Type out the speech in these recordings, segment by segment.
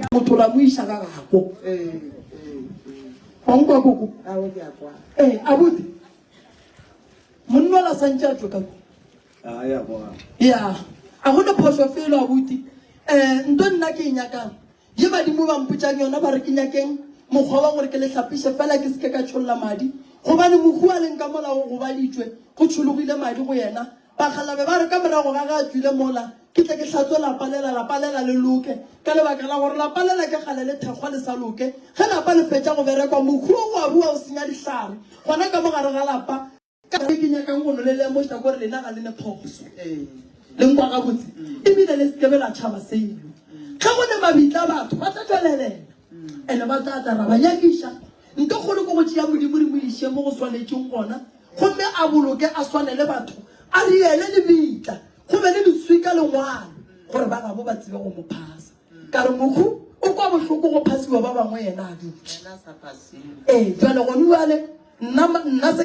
Ka go tlola mo isa ga gako. Wa utlwa koko? Eh, abuti. Monna la santse a tloka. Ah, ya bona. Ya. A go le phoso felo abuti. Eh, ntho nna ke nyaka. Ye badimo ba mpotsang yona ba re ke nyakeng mokgwa wa gore ke le hlapise fela ke seke ka tsholla madi. Gobane mohu a leng ka molao go baditswe go tshologile madi go yena. Bakgalabje ba re ka morago ga ge a tšwile mola, ke tle ke hlatswe lapa lela, lapa lela le loke, ka lebaka la gore lapa lela ke kgale le thekgwa le sa loke. Ge lapa le fetša go berekwa, mohu wo wa rua o senya dihlare gona ka mo gare ga lapa. Ka se ke nyakang go no le lemoša kore lena ga le ne phoso. Le nkwa gabotse? E bile le se ke be la tšhaba selo. Ge go ne mabitla batho ba tla tšwelelela, ene ba tla tla ra ba nyakiša Ntho kgolo ke go tšea Modimo re mo iše mo go swanetšeng gona gomme a boloke a swane le batho, a riele le meitla, go be le leswika le ngwalo gore ba gabo ba tsebe go mo phasa. Ka re, Mohu o kwa bohloko go phasiwa ba bangwe yena a dutše. Ee, bjale, gone bjale, nna, nna se.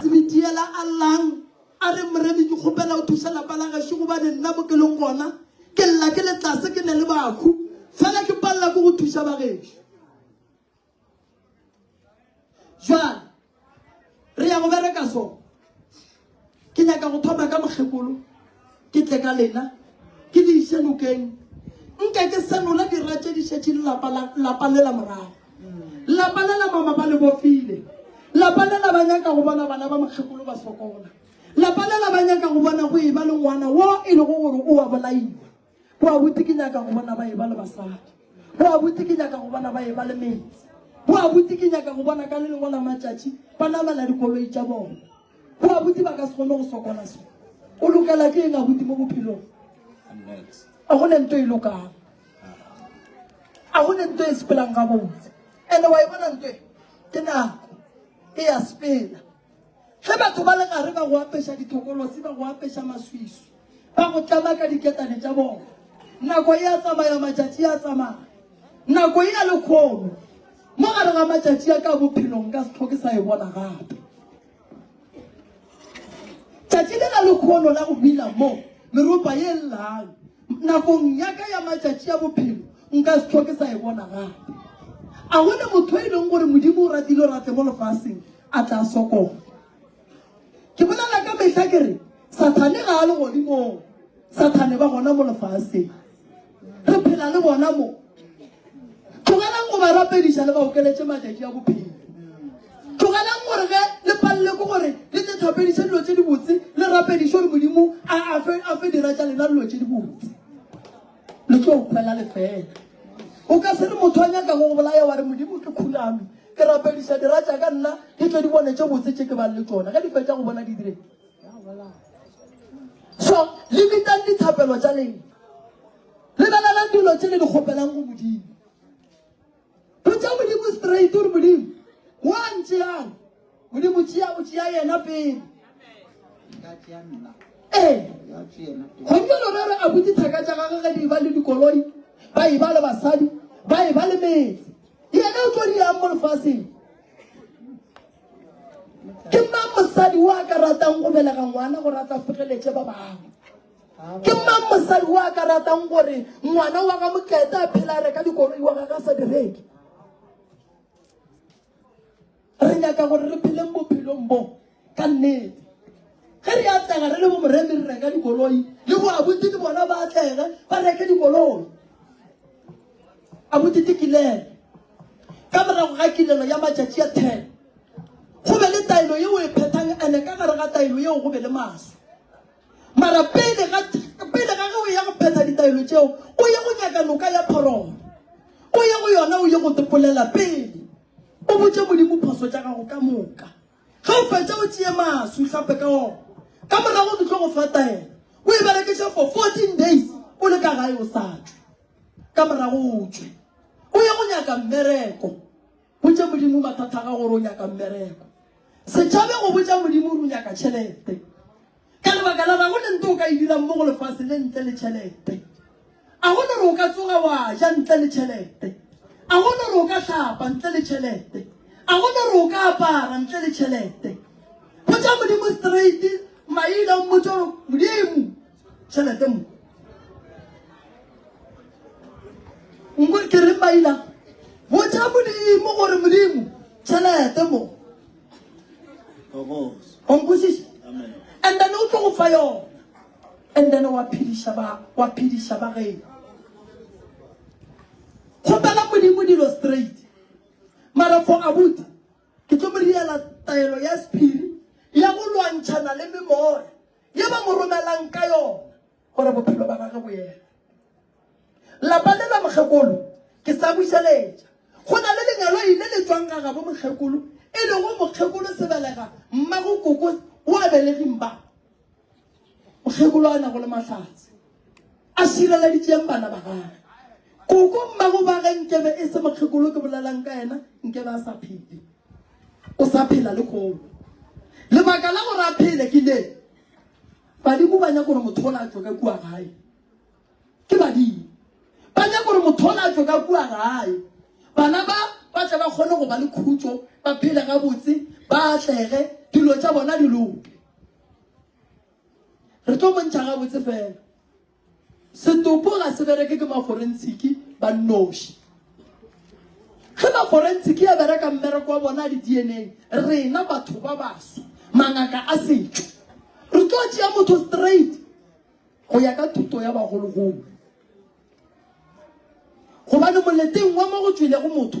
Tsebitiela a llang a re, Moremi, ke kgopela o thuše lapa la gešo gobane nna mo ke leng gona ke lla ke le tlase, ke ne le bahu, fela ke palela ke go thuša ba gešo. Jwale re ya go bereka so. Ke nyaka go thoma ka mokgekolo. Ke tle ka lena, ke le iše nokeng, nke ke senola dira tše di šetše le lapa la, lapa le la morago. Lapa le la mama ba le bofile. Lapa le la ba nyaka go bona bana ba mokgekolo ba sokola. Lapa le la ba nyaka go bona go eba le ngwana wo e lego gore o a bolaiwa. Go a bute ke nyaka go bona ba eba le basadi. Go a bute ke nyaka go bona ba eba le metse. Go a bute ke nyaka go bona ka le lengwe la matšatši ba namela dikoloi tša bona. Go abuti ba ka se kgone go sokola so. O lokela ke eng abuti mo bophelong? A go ne nto e lokang. A go ne nto e sepelang ga botse. Ene wa e bona nto e? Ke nako. E ya sepela. Ge batho ba le gare ba go apeša dithokolosi, ba go apeša maswiswi. ba go tlama ka diketane tša bona nako e a tsamaya matšatši a tsamaya nako e ya lekgono mo gare ga matšatši a ka bophelong ka setlho ke sa e bona gape tšatši le la lekgono la go bina mo meropa ye llang nakong yaka ya matšatši ya bophelo nka setlho ke sa e bona gape a gone motho e leng gore modimo o ratile o rate mo lefaseng a tla sokola ke bolela ka mehla ke re sathane ga a le godimong sathane ba gona mo lefaseng re phela le bona mo tlogelang go ba rapediša le ba okeletše matšatši a bophelo tlogelang gore ge le palele ko gore le tse thapediše dilo tše dibotse le rapediše gore modimo a fe dira tša lena dilo tše dibotse le tlo kwela lefela o ka se re motho a nyaka go bolaya wa re modimo ke khuname ke rapediša dira tša ka nna ke tlo di bone tše botse tše ke bang le tsona ge di fetša go bona di dire so le bitang dithapelo tša leng lebelelang dilo tše le di kgopelang go modimo Botša Modimo straight o re, Modimo, wa ntšeang? Modimo tšea, o tšea yena pele. Ee, gompieno re re a butse thaka tša gage ge di e ba le dikoloi, ba e ba le basadi, ba e ba le metse. Yena o tlo di yang mo lefaseng? Ke mang mosadi o a ka ratang go belega ngwana gore a tla fegeletše ba bangwe? Ke mang mosadi o a ka ratang gore ngwana wa ga Mokete a phela a reka dikoloi wa gage a sa direke? Re nyaka gore re pheleng bophelong bo ka nnete. Ge re atlega re le bo moremi re reka dikoloi le bo abuti le bona ba atlege ba reke dikoloi. Abuti ke kilelo. Ka morago ga kilelo ya matšatši a ten go be le taelo yeo e phethang ene ka gare ga taelo yeo go be le maswe. Mara pele ga pele ga ge o ya go phetha ditaelo tšeo, o ye go nyaka noka ya phoromo. O ye go yona o ye go tepolela pele. O botše Modimo phoso tša gago ka moka. Ge o fetša o tšee maswi o hlape ka ona. Ka morago ke tlo go fa taelo. O e berekiše for 14 days o le ka gae o sa tšwe. Ka morago o tšwe. O ye go nyaka mmereko. Botša Modimo mathata a gago gore o nyaka mmereko. Se tšhabe go botša Modimo gore o nyaka tšhelete. Ka lebaka la ga go le nto o ka e dirang mo go lefase le ntle le tšhelete. A go le gore o ka tsoga wa ja ntle le tšhelete. A go le gore o ka hlapa ntle le tšhelete. A go le gore o ka apara ntle le tšhelete. Botša Modimo straight maina o mmotše gore Modimo. tšhelete mo nko ke re baila botša modimo gore modimo tšhelete mo onkosiša and then o tlo go fa yona and then wa phediša ba wa phediša ba geno kgopela modimo dilo straight mara for abuta ke tlo mo riela taelo ya sephiri ya go lwantšhana le memoya Ye ba mo romelang ka yona gore bophelo ba gage bo eme. Lapa le la mokgekolo ke sa bušeletša. Go na le lenyaloi le le tšwang ga gabo mokgekolo e lego mokgekolo Sebelega, mmago Koko wa beleging ba mokgekolo a nago le Mahlatse. a šireleditšeng bana ba gage koko mmago ba ge nkebe e se mokgekolo ke bolelang ka yena nkebe a sa phele o sa phela le kgolo lebaka la gore a phele ke le badimo ba nyaka gore motho o la tswe ka kua gae ke badimo ba nyaka gore motho o la tswe ka kua gae bana ba ba tle ba kgone go ba le khutso ba phele gabotse ba atlege dilo tša bona di loke Re tlo bontšha gabotse fela. Setopo ga se bereke ke maforentshiki ba nnoši. Ge maforentshiki ya bereka mmereko wa bona a di-DNA, rena batho ba baso, mangaka a setšo, re tlo tšea motho straight go ya ka thuto ya bagologolo. Gobane moleteng wa mo go tšwelego motho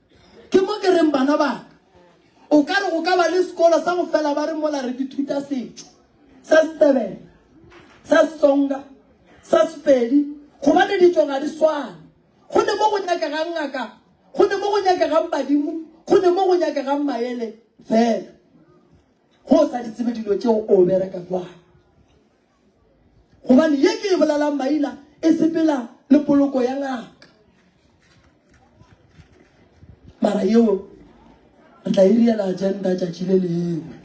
Ke mo ke reng bana ba ka, o ka re go ka ba le sekolo sa go fela ba re mola re dithuta setšo sa Setebele, sa Setsonga, sa Sepedi, gobane ditšo ga di swane. Go ne mo go nyakegang ngaka, go ne mo go nyakegang badimo, go ne mo go nyakegang maele fela. Go o sa di tsebe dilo tšeo o bereka jwang? Gobane ye ke e bolalang maina e sepela le poloko ya ngaka. Mara yeo re tla e riela agenda tšatši le lengwe.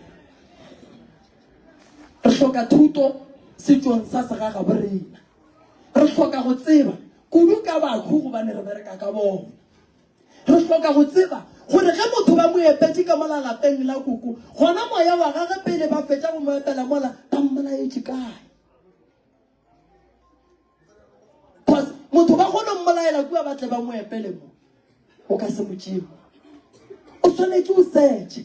Re hloka thuto setšong sa segaga borena. Re hloka go tseba kudu ka bakhu gobane re bereka ka bona. Re hloka go tseba gore ge motho ba mo epetše ka mola lapeng la koko, gona moya wa gage pele ba fetša go mo epela mola ba mmolaetše kae. Cause motho ba kgone mmolaela kua ba tle ba mo epele mo. O ka se mo tšee. O swanetše o search.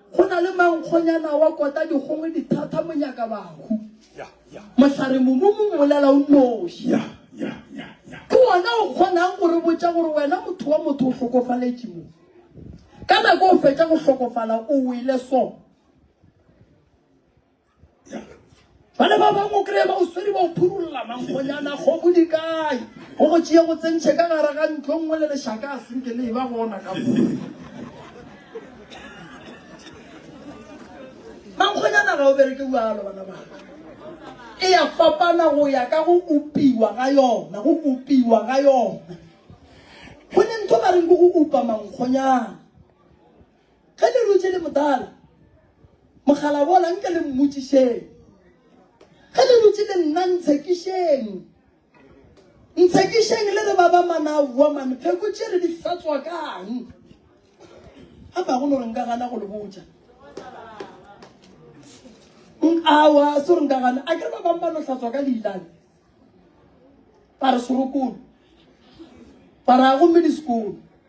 Go na le mankgonyana wa kota dikgongwe dithata monyakabahu. Mohlare momumu mmolela o noši. Ke wona o kgonang go re botša gore wena motho wa motho o hlokofaletše mo. Ka nako o fetša go hlokofala o wele so. ba le ba bangwe o kry-e ba o swere ba o phurolola mankgonyana kgomo di kae go go tšea go tsentšhe ka gare ga ntlo nngwe le lešaka a senke le e ba gona ka mo mankgonyana ga o bereke bjalo bana baka e ya fapana go ya ka go upiwa ga yona go upiwa ga yona go ne ntho ba reng ke go upa mankgonyana Ge le rutše le motala mogalabola nke le mmotšišeng. Ge le rutše le nna ntshekišeng. Ntshekišeng le re ba ba manao woman pheko tše re di hlatswa kang. A ba go no re nka gana go le botša. Awa so re nka gana a ke re ba bang ba no hlatswa ka leilane. Ba re sorokolo. Ba re a gomme di sekolo.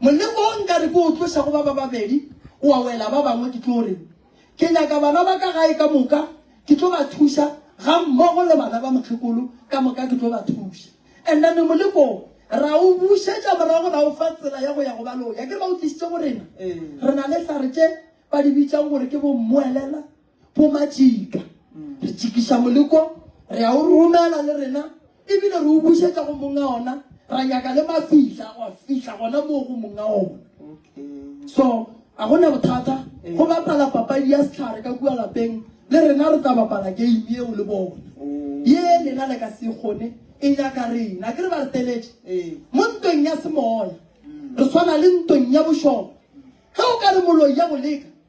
Moleko wo nka re ke o tloša go ba ba babedi o a wela ba bangwe, ke tlo re ke nyaka bana ba ka gae ka moka, ke tlo ba thuša ga mmogo le bana ba mokgekolo ka moka, ke tlo ba thuša. And then moleko wo ra o bušetša morago, ra o fa tsela ya go ya go ba leo. Ya ke re ba o tlišitše go rena, re na le hlare tše ba di bitšang gore ke bo mmoelela, bo majika re tšikiša moleko re a o romela le rena ebile re o bušetša go monga ona ra nyaka le mafihla wa fihla gona moo go monga ona so a gona bothata go bapala papadi ya setlhare ka kua lapeng le rena re tla bapala game eo le bona ye lena le ka se kgone e nyaka rena ke re ba re teletše mo ntweng ya semoya re tshwana le ntweng ya bošogo ge o ka re moloi ya boleka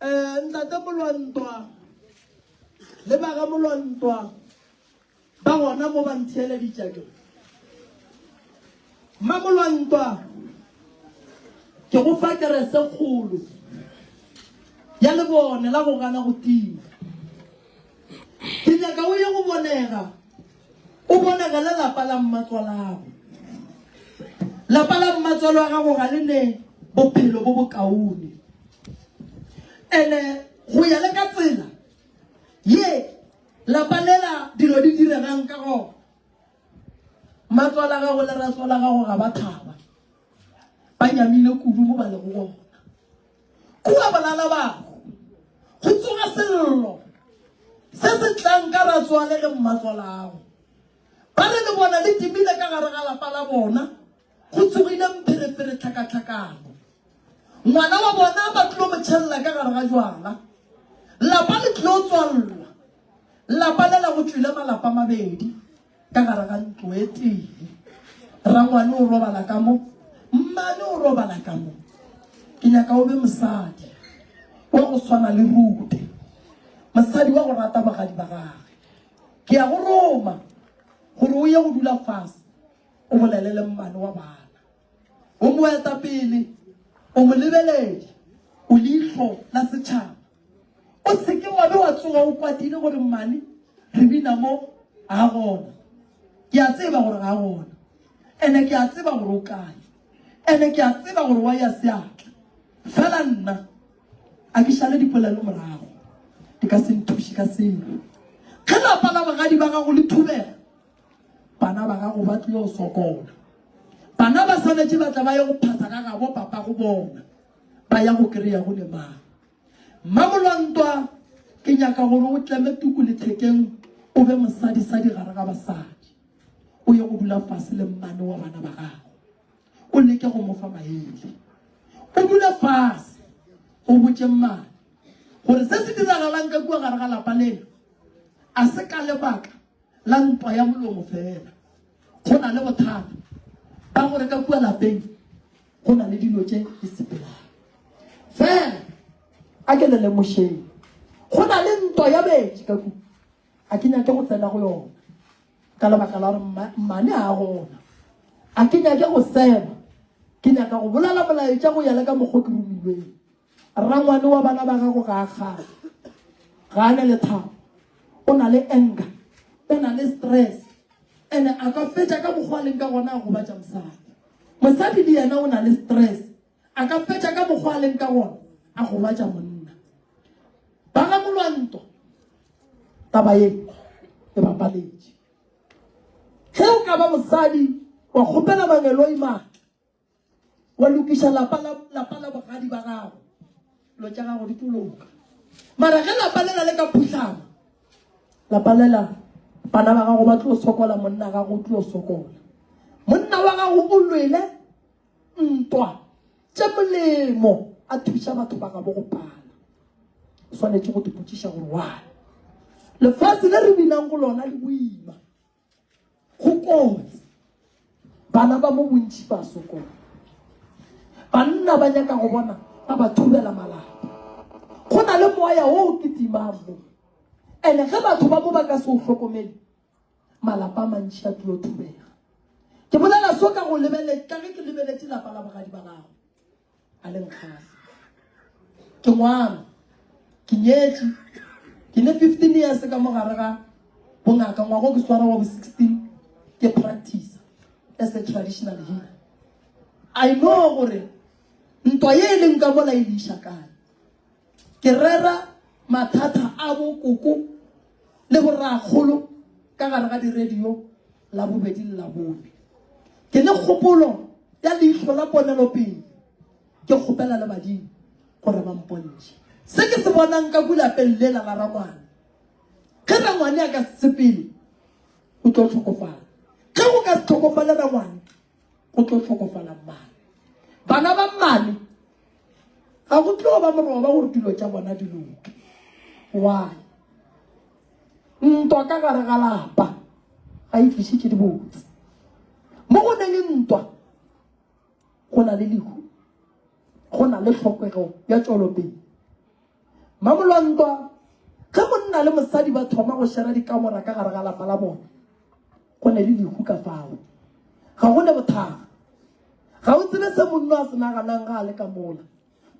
Eh, ntate Molwantwa le ba ga Molwantwa ba gona mo ba ntheeleditša ke mma Molwantwa ke go fa kerese kgolo ya lebone la go gana go tima ke nyaka o ye go bonega O bonagela lapa la mmatswalago. Lapa la mmatswale wa gago ga le ne bophelo bo bokaone. Ene go ya le ka tsela ye lapa lela dilo di diregang ka gona, mmatswala gago le ratswala gago ga ba thaba. Ba nyamile kudu mo ba lego gona. Kua bolala bago. Go tsoga sello. Se se tlang ka ratswale le mmatswalago. Ba re le bona le dimile ka gare ga lapa la bona. Go tsogile mpherefere tlhakatlhakano. Ngwana wa bona ba tlo mo tšhelela ka gare ga jwala. Lapa le tlo tswalwa. Lapa le la go tšwile malapa mabedi. Ka gare ga ntlo e tee, rrangwane o robala ka mo, mmane o robala ka mo. Ke nyaka o be mosadi wa go swana le Rute, mosadi wa go rata bagadi ba gage. Ke ya go Roma gore o ye go dula fase, o bolele le mmane wa bana. O moetapele, o molebeledi, o leihlo la setšhaba. O se ke wa be wa tsoga o kwatile gore mmane re bina mo ga gona. Ke a tseba gore ga gona. Ene ke a tseba gore o kae. Ene ke a tseba gore wa ya seatla. Fela nna a ke šale dipolelo morago. Di ka se nthuše ka selo. Ge lapa la bogadi ba gago le thubega, bana ba gago ba tlile go sokola. Bana ba swanetše ba tla ba ye go phasa ga gabo papa go bona. ba ya go kry-a go le mang mmamolwantwa ke nyaka gore o tleme tuku lethekeng o be mosadisadi gare ga basadi o ye go dula fase le mmane wa bana ba gago o leke go mofa maele o dule fase go botse mmane gore se se diragalang ka kua gare ga lapa lena a se ka lebaka la ntwa ya molomo fela. Go na le bothata ba gore ka kua lapeng go na le dilo tše di sepelang fela. A ke le lemošeng, go na le ntwa ya betši ka kua. A ke nyake go tsena go yona ka lebaka la gore mmane ga gona. A ke nyake go seba, ke nyaka go bolela molaetša go ya le ka mokgwa ke romilweng. Rrangwane wa bana ba gago ga a kgale, ga a ne lethabo, o na le anger, o na le stress, ene a ka fetša ka mokgwa leng ka gona a gobatša mosadi. Mosadi le yena o na le stress, a ka fetša ka mokgwa leng ka gona a gobatša monna. Ba ga Molwantwa taba ye e bapaletše. Ge o ka ba mosadi wa kgopela Mangeloi matla, wa lokiša lapa la lapa la bogadi ba gago lo tša gago di toloka mara ge lapa lela le ka phutlhama lapa lela bana ba gago ba tlo sokola monna gago o tlo sokola monna wa gago o lwele ntwa tše molemo a thuša batho ba gabo go pala o swanetše go dipotšiša gore wane lefatshe le re binang go lona le boima Go kotsi. Bana ba mo bontši ba sokola. Banna ba nyaka go bona ba ba thubela malapa. Go na le moya o o kitimang mo. Ene ge batho ba mo ba ka se o hlokomele, malapa a mantši a tlo thubega. Ke bolela so ka go lebeletša ge ke lebeletše lapa la bogadi ba gago. a le nkgale ke ngwana ke nyetše ke ne fifteen years ka mo gare ga bongaka ngwago ke swara wa bo sixteen ke practice as a traditional healer i know gore ntwa ye e leng ka mola e leiša kae ke rera mathata a bokoko le borakgolo ka gare ga di-radio la bobedi le la bone ke le kgopolo ya leihlo la ponelopele ke kgopela le badimo gore ba mpontšhe se ke se bonang ka kulapeng lela la rangwane ge rangwane a ka sepele o tlo tlhokofala ge go ka se tlhokofale rangwane go tlo tlhokofala mmane bana ba mmane ga go tlo ba moroba gore dilo tša bona di loke why ntwa ka gare ga lapa ga e tlišitše dibotse mo go ne le ntwa go na le lehu go na le tlhokego ya tšwelopele Mmamolwantwa, Ge monna le mosadi ba thoma go šera dikamora ka gare ga lapa la bona, go ne le lehu ka fao. Ga go ne bothakga. Ga o tsebe se monno a se naganang ga a le ka mola.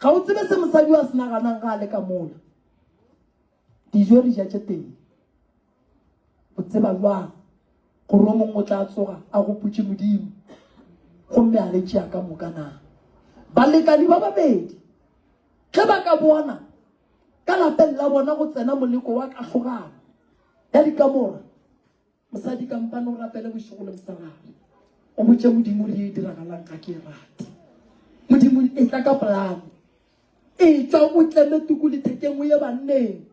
Ga o tsebe se mosadi a se naganang ga a le ka mola. Dijo re ja tše teng. O tseba bjang gore o mongwe o tla tsoga a gopotše Modimo gomme a le tšea ka moka na? Balekani ba babedi ge ba ka bona ka lapeng la bona go tsena moleko wa kahlogano ya dikamora mosadi kampane o rapele bošego le mosarare o botše modimo re e diragalang ga ke e rate modimo e tla ka polane e tswa o tleme tuku lethekeng o ye banneng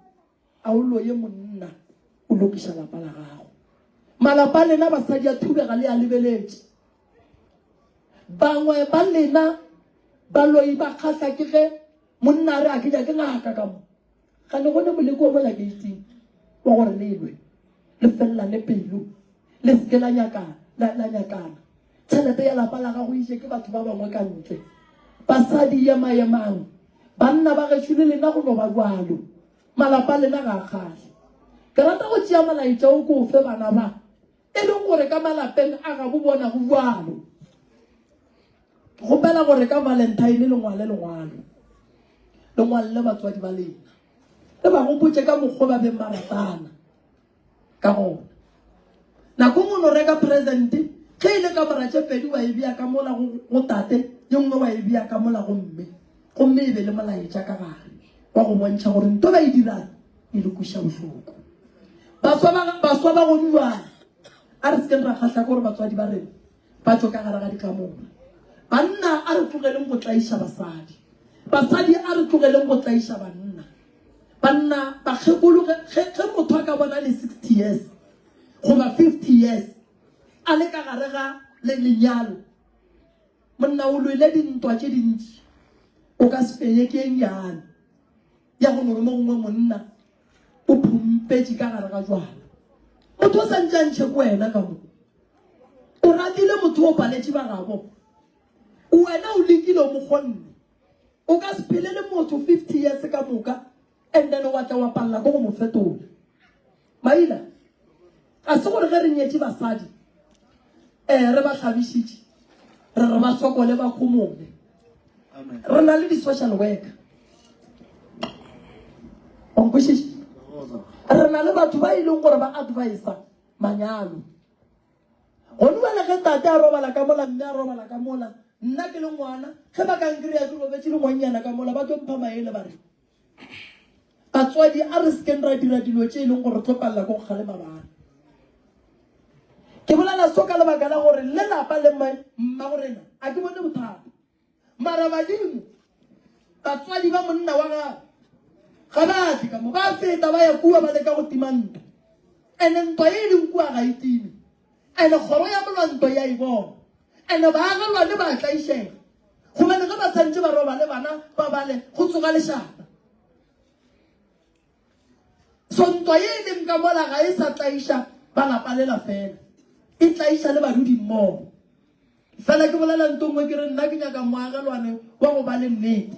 A o loye monna o lokiša lapa la gago. Malapa a lena basadi a thubega le a lebeletše. Bangwe ba lena ba loyi ba kgahla ke ge monna a re a ke nyake ngaka ka mo. Ga le gone moleko wa mola geiting wa gore le lwe le fellane pelo le se ke la nyakana la nyakana. Tšhelete ya lapa la gago e je ke batho ba bangwe ka ntle. Basadi, yema-yemang! Banna ba gešo le lena go no ba bjalo. Malapa a lena ga a kgahle. Ke rata go tšea molaetša o ke o fe bana ba e leng gore ka malapeng a gabo bona go bjalo. Ke kgopela gore ka Valentine le ngwale lengwalo, le ngwalle batswadi ba lena, le ba gopotše ka mokgwa o ba beng ba ratana. Ka gona, nako nngwe no reka presente, ge e le ka mora tše pedi wa e bea ka mola go, go tate, ye nngwe wa e bea ka mola go mme, gomme e be le molaetša ka gare wa go bontšha gore nto ba e dirang e le kweša bohloko. Baswa ba, baswa ba go bjale, a re se ke ra kgahla gore batswadi ba rena ba tšo ka gare ga dikamora. Banna a re tlogeleng go tlaiša basadi, basadi a re tlogeleng go tlaiša banna. Banna bakgekolo, ge, ge, ge motho a ka bona le 60 years goba 50 years a le ka gare ga le lenyalo, monna o lwele dintwa tše dintši, o ka se fenye ke eng yana. ya go nore mongwe monna o phumpetše ka gare ga jwala motho o sa ntšantšhe ko wena ka mo o ratile motho o paletše ba gabo wena o lekile o mokgonne o ka se phele le motho fifty years ka moka and then wa tla wa palela ko go mo fetola Maina, ga se gore ge re nyetše basadi um re ba hlabišitše re re ba sokole ba khomone. Re na le di-social worker onkwešiše re na le batho ba e leng gore ba advisa manyalo gone bale ge tate a robala ka mola mme a robala ka mola nna ke le ngwana ge ba kankry-a ke robetse le ngwannyana ka mola ba tlo mpha maele ba re Batswadi, a re sekeng ra dira dilo tše e leng gore re tlo palela ko go kgalema bana. Ke bolela so ka lebaka la gore le lapa le mma go rena a ke bone bothata. Mara badimo, batswadi ba monna wa gago ga ba tle ka mo ba feta ba ya kua ba leka go tima ntwa. Ene ntwa e leng kua ga e time. Ene kgoro ya molwanto ya e bona, ene baagalwane ba a tlaišega, gobane ge ba santše ba roba le bana ba bale, go tsoga lešata. So ntwa ye e leng ka mola ga e sa tlaiša ba lapa lela fela, e tlaiša le badudimmogo. Fela ke bolela ntho nngwe ke re nna ke nyaka moagelwane wa go ba le nnete.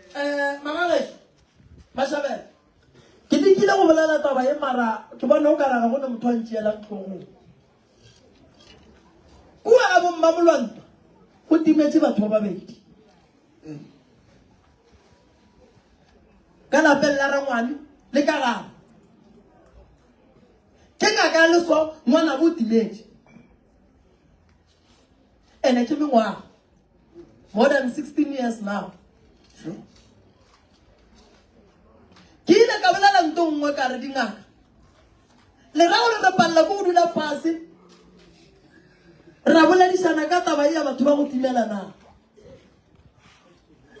Eh, Magageso, Mashabela, ke lekile go bolela taba e mara ke bona o karaga go ne motho a ntšeelang tlhogong. Kua ga bomma molwantwa go timetse batho ba babedi. Ka lapeng la rangwane le ka gabo. Ke ngaka ya leso ngwana bo timetse. ene ke mengwaga more than 16 years now ke ile ka bolela nto nngwe ka re dingaka le ra gore re palela ko go dula fase ra boledišana ka taba e ya batho ba go timela na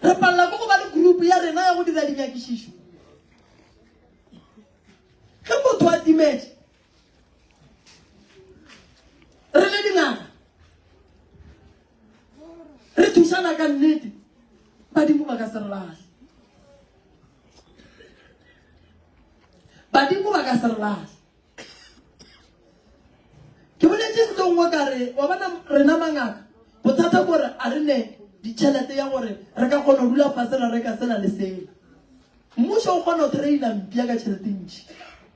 re palela ko go ba le group ya rena ya go dira dinyakišišo ge motho a timetse re le dingaka re thusana ka nnete badimo ba ka se re lahle badimo ba ka se re lahle ke boletse ntlo nngwe ka re wa bona rena mangaka bothata kore a re ne ditšhelete ya gore re ka kgona go dula fasela re ka sena le sela mmušo o kgona go traina mpia ka tšhelete ntšhi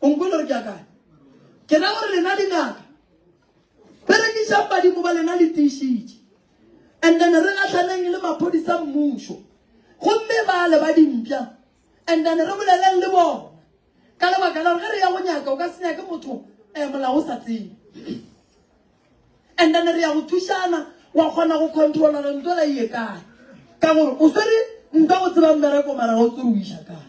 o nkwele gore ke akanya ke ra gore lena dingaka berekišang badimo ba lena le tiišitše and then re gatlhaneng le maphodisa mmušo gomme ba le ba dimpša and then re boleleng le bona ka lebaka la gore ge re ya go nyaka o ka se nyake motho um eh, molao o sa tsebe and then re ya go thušana wa kgona go controla re ntwela ye kae ka gore o swere nka go tseba mmereko mara o tsere o iša kae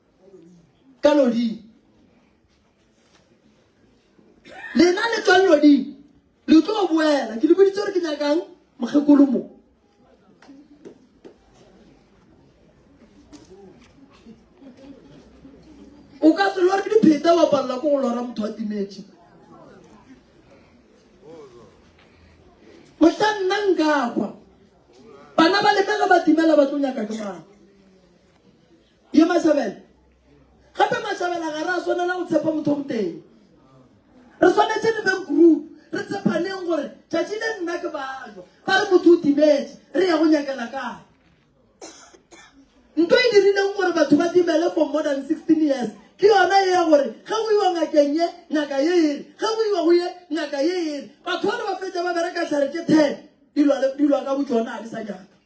ka loding lena le tswang loding le tlo boela ke le boditse gore ke nyakang mokgekolo mo o ka se lore dipheta wa palela ko go lora motho wa timetše mohla nna nkakwa bana ba lemela ba timela ba tlo nyaka ke mang Ye Mashabela. Gape Mashabela ga ra swanela go tshepa motho moteng. Re swanetse re beng group, re tshepaneng gore tšatši le nna ke bajwa. Ba re motho o timetše, re ya go nyakela kae? Nto e dirileng gore batho ba timele for more than 16 years ke yona ye ya gore ge go iwa ngakeng ye ngaka ye ere ge go iwa go ye ngaka ye ere batho ba re ba fetša ba bereka tlhare tše ten dilwa ka botšona ga di sa nyaka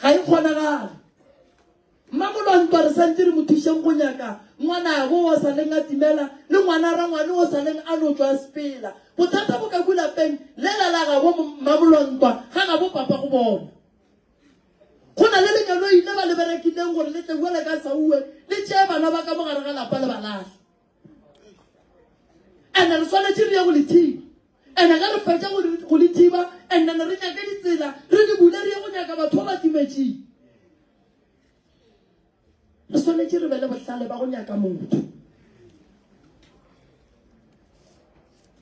Ga e kgonagale. Mmamolo a ntwa re santse re mo thušeng go nyaka ngwanabo o sa leng a timela le ngwana rangwane o sa leng a no tswa sepela. Bothata bo ka kulapeng lela la gabo mmamolo a ntwa ga gabo papa go bona. Go na le lenyalo ile ba le berekileng gore le tle buele ka sauwe le tšee bana ba ka mo gare ga lapa le ba lahle. ene re swanetše re ye go le thiba ene ge re fetša go le thiba and then re nyake ditsela re di bule re ye go nyaka batho ba ba timetšeng re swanetše re be le bohlale ba go nyaka motho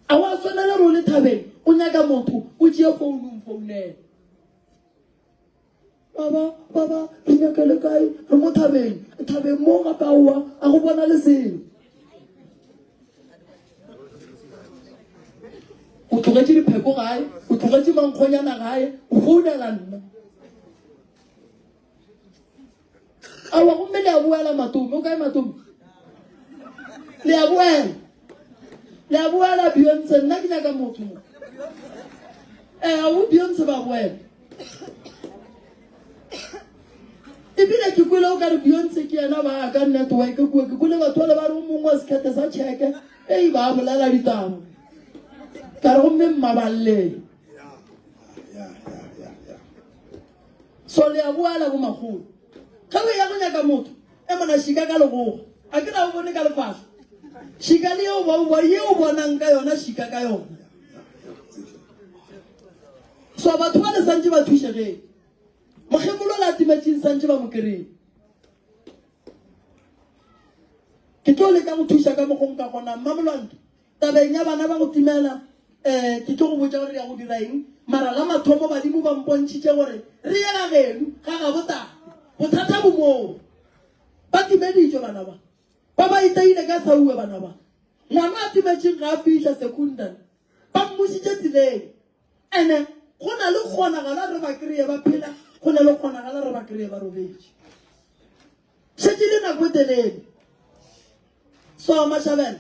a wa swanela re o le thabeng o nyaka motho o tšee founung founela Baba, baba, re nyaka le kae? Re mo thabeng. Thabeng mo gape aowa, a go bona le selo. O tlogetše dipheko gae, o tlogetše mankgonyana gae, o founela nna. awa gomme le a boela matome o kae matome le a boela le a boela beyonce nna ke nyaka motho mo ee eh, o beyonce ba boela ebile ke kwele o ka re beyonce ke yena ba ka network kua ke kwele batho ba le ba re o mongwe wa sekgethe sa cheke ei ba bolela ditaba ka re gomme mmabalele So le a boala bo makgolo. Ge o ya go nyaka motho, e mona šika ka legogo. A ke na o bone ka lefahlo. Šika le yeo ba o yeo bonang ka yona šika ka yona. So batho ba le santse ba thušegeng. Mokgekolo la timetšeng santse ba mo kereng. Ke tlo leka go thuša ka mogong ka gona mmamolwanto. Tabeng ya bana ba go timela, um ke tlo go botša gore re ya go dira eng, mara la mathomo badimo ba mpontšhitše gore re ye ga genu ga gabotate. Bothata bo moo, ba timeditšwe bana ba ba ba itaile ka saue bana ba. Ngwana a timetšeng ga a fihla secondary, ba mmušitše tseleng. Ene go na le kgonagala re ba kreye ba phela, go na le kgonagala re ba kreye ba robetše. Šetše le nako e telele. So Mashabela,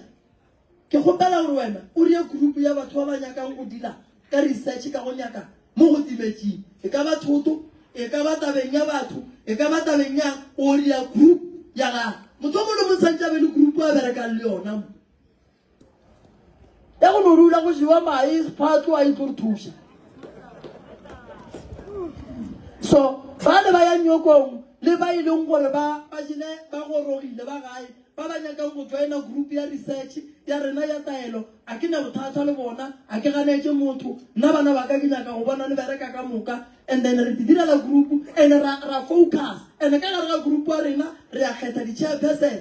ke kgopela gore wena o rie group ya batho ba ba nyakang go dila ka research ka go nyaka mo go tibetšeng. E ka ba thoto, e ka ba tabeng ya batho, e ka ba tabeng yang, o ria group ya gago. Motho o mongwe le mongwe tshwanetse a be le group a berekang le yona mo. ya go no rula go jewa mae sephatlo a itlo re thusa so ba le ba ya nyokong le ba e leng gore ba ba jele ba gorogile ba gae ba ba nyakang go joina group ya research ya rena ya taelo a ke ne bothata le bona a ke ganetse motho nna bana ba ka ke nyaka go bona le bereka ka moka and then re direla group and ra focus and ka gare ga group wa rena re ya kgetha di-chairperson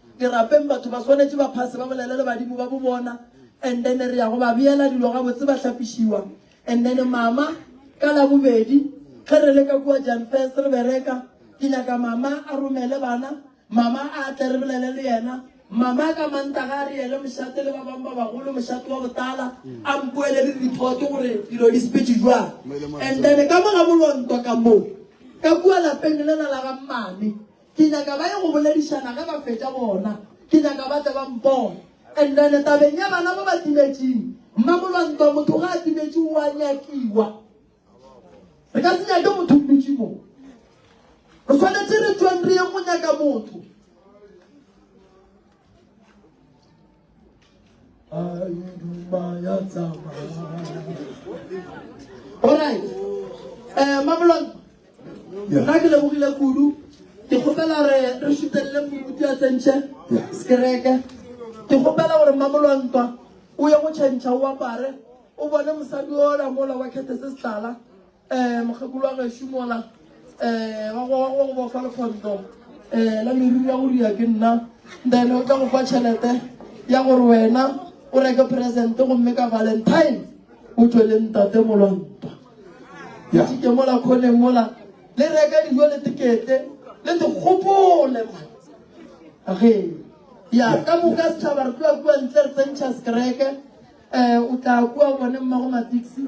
Ke rapeng batho ba swanetše ba phase ba bolele le badimo ba bo bona and then re ya go ba beela dilo gabotse ba hlapišiwa and then mama ka la bobedi ge re le ka kua jan first re bereka ke nyaka mama a romele bana mama a tle re bolele le yena mama ka mantaga a re yele mošate le ba bangwe ba bagolo mošate wa botala a mpoele le report gore dilo di sepetse jwang and then ka mo ga molonto ka moo ka kua lapeng le la la ga mmane Ke nyaka ba ye go boledišana ge ba fetša gona. Ke nyaka ba tle ba mpone. And then tabeng ya bana ba ba timetšeng, mmamolwantwa motho ga a timetše o a nyakiwa. Re ka se nyake motho o dutše mo. Re swanetše re tšweng re ye go nyaka motho. Alright. Eh, Mamelodi. Yeah. Nna ke lebogile kudu. Ke kgopela gore re šutelele moruti a tsentšhe sekereke. Ke kgopela gore Mamolontwa o ye go tšhentšha o apare o bone mosadi ola mola wa kgethe se setlala. um mokgekolo wa gešu mola um wa go go bofa lekgondo um la meriri ya go ria ke nna then o tla go fa tšhelete ya gore wena o reke presente gomme ka valentine o tswele ntate molwanta Yeah. ke mola kgoneng mola le reka dijo le tekete le dikgopole man ge ya ka moka setšhaba re tloa kua ntle re tsentšha sekereke um o tla kua bone mmago matiksi